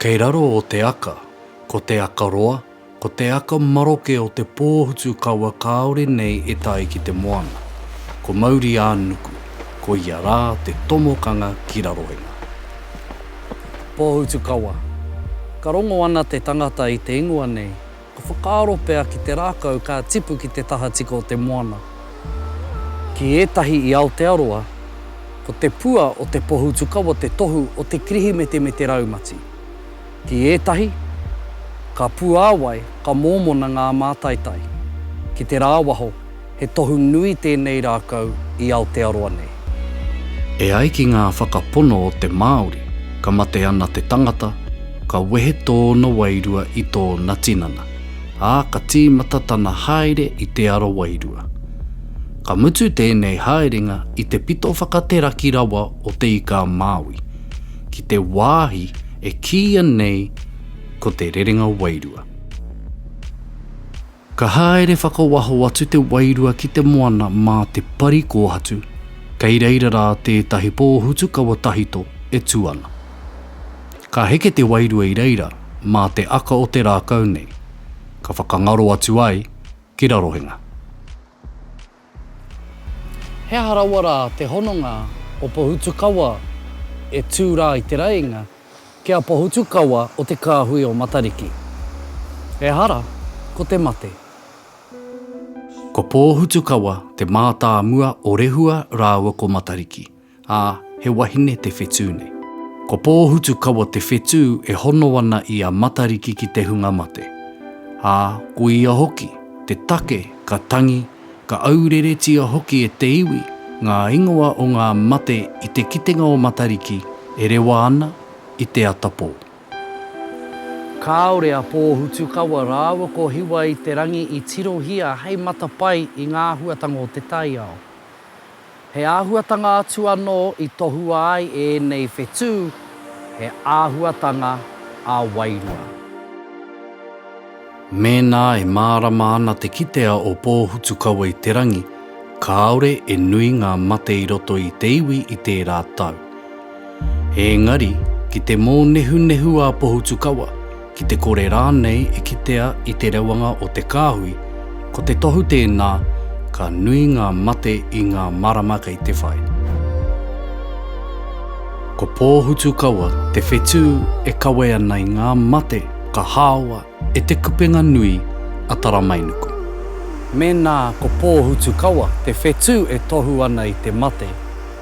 Kei raro o te aka, ko te aka roa, ko te aka maroke o te pōhutu kawa kāore nei e tae ki te moana. Ko Mauri-ā-nuku, ko ia rā te tomokanga ki Rarohenga. Pōhutu kawa. Ka rongo ana te tangata i te ingoa nei. Ka whakaaro pea ki te rākau ka tipu ki te tahatika o te moana. Ki ētahi i Aotearoa, ko te pua o te pohutukawa te tohu o te Kirihimete me te raumati. Ki ētahi, ka puāwai, ka mōmona ngā mātaitai. Ki te rāwaho, He tohu nui tēnei rākau i Aotearoa nei. E ai ki ngā whakapono o te Māori, ka mate ana te tangata, ka wehe tōna wairua i tōna tinana, ā, ka tīmata tana haere i te ara wairua. Ka mutu tēnei haerenga i te pito whakateraki rawa o Te Ika-a-Māui, ki te wāhi e kīia nei ko te rerenga wairua. Ka haere whakawaho atu te wairua ki te moana mā te pari kōhatu, kei reira rā tētahi pōhutukawa tahito e tū ana. Ka heke te wairua i reira mā te aka o te rākau nei, ka whakangaro atu ai ki Rarohenga. He aha rawa rā te hononga o Pohutukawa e tū rā i te rainga ki a Pohutukawa o te kāhui o Matariki? Ehara, ko te mate. Ko Pōhutukawa te mātāmua o Rehua rāua ko Matariki. ā, he wahine te whetū nei. Ko Pōhutukawa te whetū e hono ana i a Matariki ki te hunga mate, ā, ko ia hoki te take ka tangi, ka aureretia hoki e te iwi ngā ingoa o ngā mate i te kitenga o Matariki e rewa ana i te ata pō. Kāore a Pōhutukawa rāua ko Hiwa-i-te-rangi i tirohia hei matapae i ngā āhuatanga o te taiao. He āhuatanga atu anō i tohua ai ēnei whetū, he āhuatanga ā-wairua. Mēnā e mārama ana te kitea o Pōhutukawa-i-te-rangi, kāore e nui ngā mate i roto i te iwi i tērā tau. Engari, ki te mōnehunehu a Pohutukawa, ki te kore rānei e kitea i te rewanga o te kāhui, ko te tohu tēnā, ka nui ngā mate i ngā marama kei te whai. Ko Pōhutukawa te whetū e kawe ana i ngā mate ka hāoa e Te Kupenga Nui a Taramainuku. Mēnā ko Pōhutukawa te whetū e tohu ana i te mate,